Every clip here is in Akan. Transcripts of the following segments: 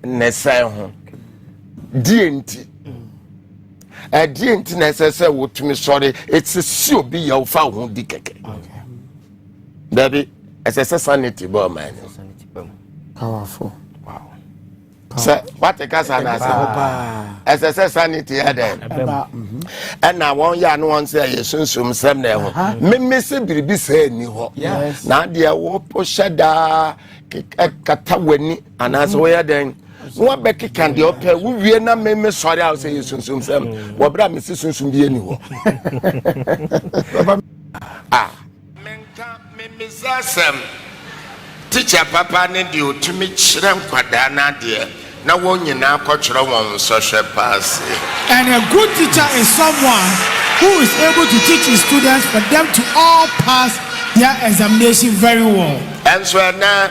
ne sɛe ho deɛ nti ɛdeɛ nti na ɛsɛ sɛ wotumi sɔre ɛsɛ si obi yɛ wofa wo ho di kɛkɛ dabi ɛsɛ sɛ sanity bɛ ɔman no sɛ wate kasa no ase ɛsɛ sɛ sanity yɛ dɛn ɛna wɔn yɛ ano wɔn sɛ ɛyɛ sunsum sɛm na ɛho meme sɛ biribi sɛ ɛni hɔ na adeɛ wɔhyɛ daa kata w'ani anaasɛ woyɛ dɛn na wabɛkeka deɛ ɔpɛ wowie na me mesɔre a wo sɛ yɛ sunsum sɛm wɔberɛ a mese sunsum bi ani hɔ ah. menka memesa asɛm tikya papa ne deɛ ɔtumi kyerɛ nkwadaa no adeɛ na wɔn nyinaa kɔtwerɛ wɔn nsɔhwɛ paase and a good teacher is someone who is able to teach his students for them to all pass their examination very well ɛnso ɛnɛ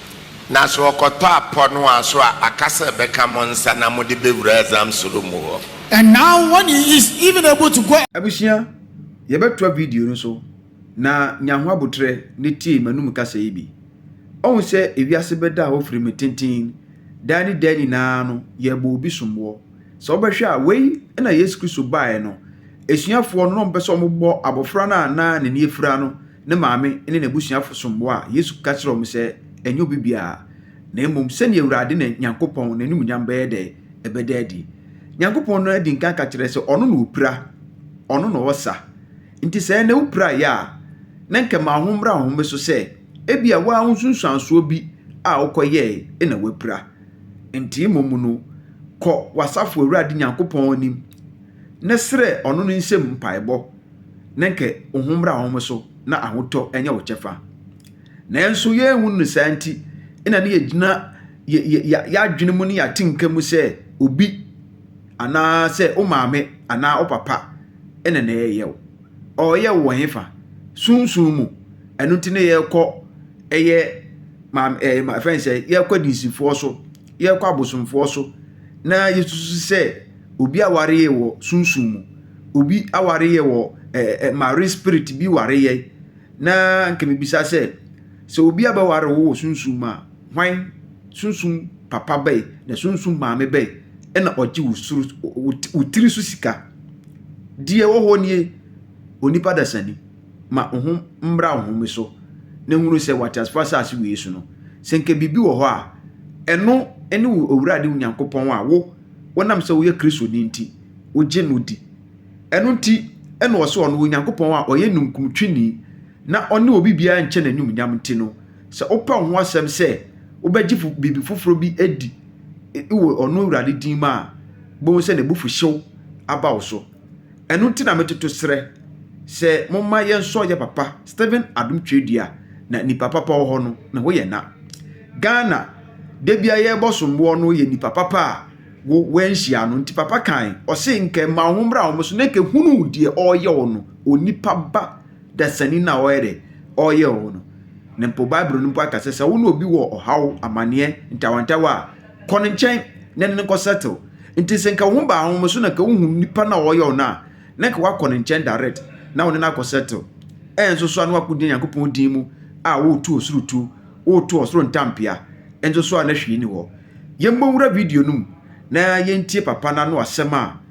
Na sɛ ɔkɔtɔ apɔnoa so a, aka sɛ bɛka mo nsa na mode bɛwura Azam soro mu hɔ. And now when he is even able to go. Abusua, yɛbɛtoa video no so na nya ho aboterɛ na tie m'anum kasa yi bi. Ɔhu sɛ ewiase bɛda hɔ firime tenten, daa ne daa nyinaa no yɛrebɔ obi somboɔ. Sɛ wobɛhwɛ a wei na Yesu Kristo baeɛ no asuafoɔ no na ɔmpɛ sɛ wɔbɔ abɔfra no a na n'ani afira no ne maame ne n'abusuafo som bo a, Yesu ka kyerɛɛ wɔn sɛ, Ɛnyɛ obi biara, na mmom sɛnea Awurade ne Nyankopɔn n'anuonyam bɛyɛ dɛ ɛbɛda adi. Nyankopɔn no adi nkan ka kyerɛɛ sɛ ɔno na opira, ɔno na ɔsa. Nti sɛ ɛnnɛ wupiraeɛ a, na nka ma ho mmra wo home so sɛ ebia wo ara wo nsunsuansoɔ bi a wokɔyɛe na woapira. Nte mmom no, kɔ w'asafo Awurade Nyankopɔn anim na srɛ ɔno no nsam mpaebɔ. na anka wo ho mmra wɔn so na ahotɔ nyɛ wo kyɛfa. Nanso yɛnhu no saa nti na ne yɛgyina yɛadwene mu ne yɛatenka mu sɛ obi anaa sɛ wo maame anaa wo papa ɛna na ɛyɛ wo. Ɔyɛ wo wɔ hefa? Sunsum mu. Ɛno nti na yɛkɔ ɛyɛ maame ɛyɛ ma fɛn sɛ yɛkɔ adinsifoɔ so yɛkɔ abosomfoɔ so na yɛsusu sɛ Obi aware yɛ wɔ sunsum mu. Obi aware yɛ wɔ ɛ ɛ marine spirit bi ware yɛ. Na nka mebisa sɛ, sɛ obi abɛware wo wɔ sunsum mu a, hwan sunsum papa bɛn na sunsum maame bɛn ɛna ɔgye wo soro wo tiri so sika? Deɛ ɛwɔ hɔ nie, onipa dasani. ma hom mbra hom so na hunu sɛ wɔ atseasefo asaase wei so no, sɛ nka biribi wɔ hɔ a, ɛno ne wo Ewurade wo Nyankopɔn a wo, wonam sɛ woyɛ Kristoni nti, wogye no di. Ɛno nti na ɔse ɔno, Onyankopɔn a ɔyɛ ninkuntweni na ɔne obi biara nkyɛ n'anyumnyam nti no, sɛ wopa wo ho asɛm sɛ wobɛgye fo biribi foforɔ bi adi wɔ ɔno Ewurade din mu a, bohu sɛ n'abufuhyew aba wo so. Ɛno nti na metoto serɛ sɛ momma yɛnsɔ yɛ papa Stephen Adom Tweredua na nipa papa wɔ hɔ no na hɔ yɛ na. Ghana da bia yɛbɔ somboɔ no yɛ nipa papa a wo wanhyia no nti papa kan ɔse nka ɛma wo ho mmra wɔn so na nka hunu deɛ ɔyɛ wɔ no onipa ba dasani na ɔyɛ dɛ ɔyɛ wɔ no na mpo Bible no mpo aka sɛ sɛ wo ne obi wɔ ɔhaw amaneɛ ntawantawa a Kɔ ne nkyɛn na ne no nkɔ settle. Nti sɛ nka wo ho baa wɔn so na nka wohu nipa no a ɔyɛ wo no a, na nka woakɔ ne nkyɛn direct na wo ne no akɔ settle. Ɛnso so a na woakɔgyina Nyankopɔn din mu a woretu ɔsoro tuo, woretu ɔsoro ntampea. Ɛnso so a na hwee ni hɔ. Yɛmmɔ nwura video no mu na yɛntie papa no ano asɛm a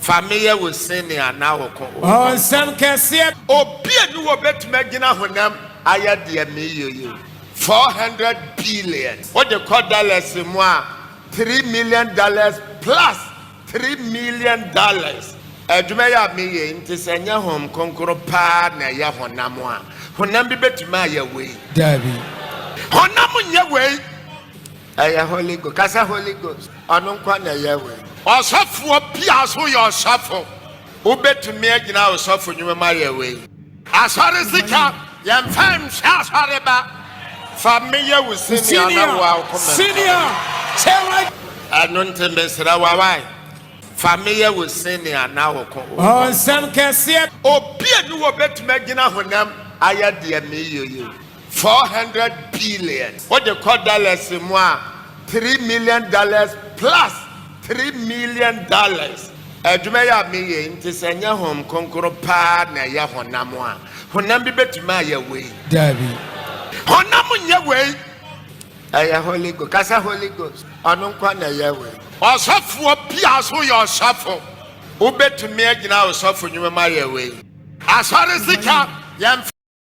Fa me yɛ wo sen nea na wo kɔn wɔ fam. Nsɛm kɛseɛ. Obi a ni hɔ bɛtumi agyina honam ayɛ deɛ meyɛ yi. Four hundred billion. Wode kɔ dollars mu a, three million dollars plus three million dollars. Adwuma yi a meyɛ yi nti, sɛ ɛnyɛ Honhom Kronkron pa ara na ɛyɛ honam a, honam bi bɛtumi ayɛ wei? Daabi. Honam nyɛ wei. Ɛyɛ Holy Ghost. Ka sɛ Holy Ghost. Ɔno nkoa na ɛyɛ wei. Ɔsɔfoɔ bia nso yɛ ɔsɔfo. Wobɛtumi agyina ɔsɔfo nwuma mu ayɛ wei. Asɔre sika, yɛmfa nhwɛ asɔre ba. Fa me yɛ wo senior na wo a wokɔ mentor. Ɛno nti mesrɛ wo wai. Fa me yɛ wo senior na wo ko wokɔ mentor. Obia ni hɔ a obɛtumi agyina honam ayɛ deɛ meeyɛ yi. Four hundred billion. Wo de kɔ dollars mu a, three million dollars plus three million dollars. Adwuma yi a me yɛ yi nti sɛ nyɛ Honhom Kronkron paa na ɛyɛ honam a, honam bi bɛtumi ayɛ wei? Daabi. Honam nyɛ wei. Ɛyɛ Holy Ghost. Ka sɛ Holy Ghost. Ɔno nko ara na ɛyɛ wei. Ɔsɔfoɔ bi a ɔse woyɛ ɔsɔfo, wobɛtumi agyina ɔsɔfo nnwuma mu ayɛ wei? Asɔre sika, yɛmfa.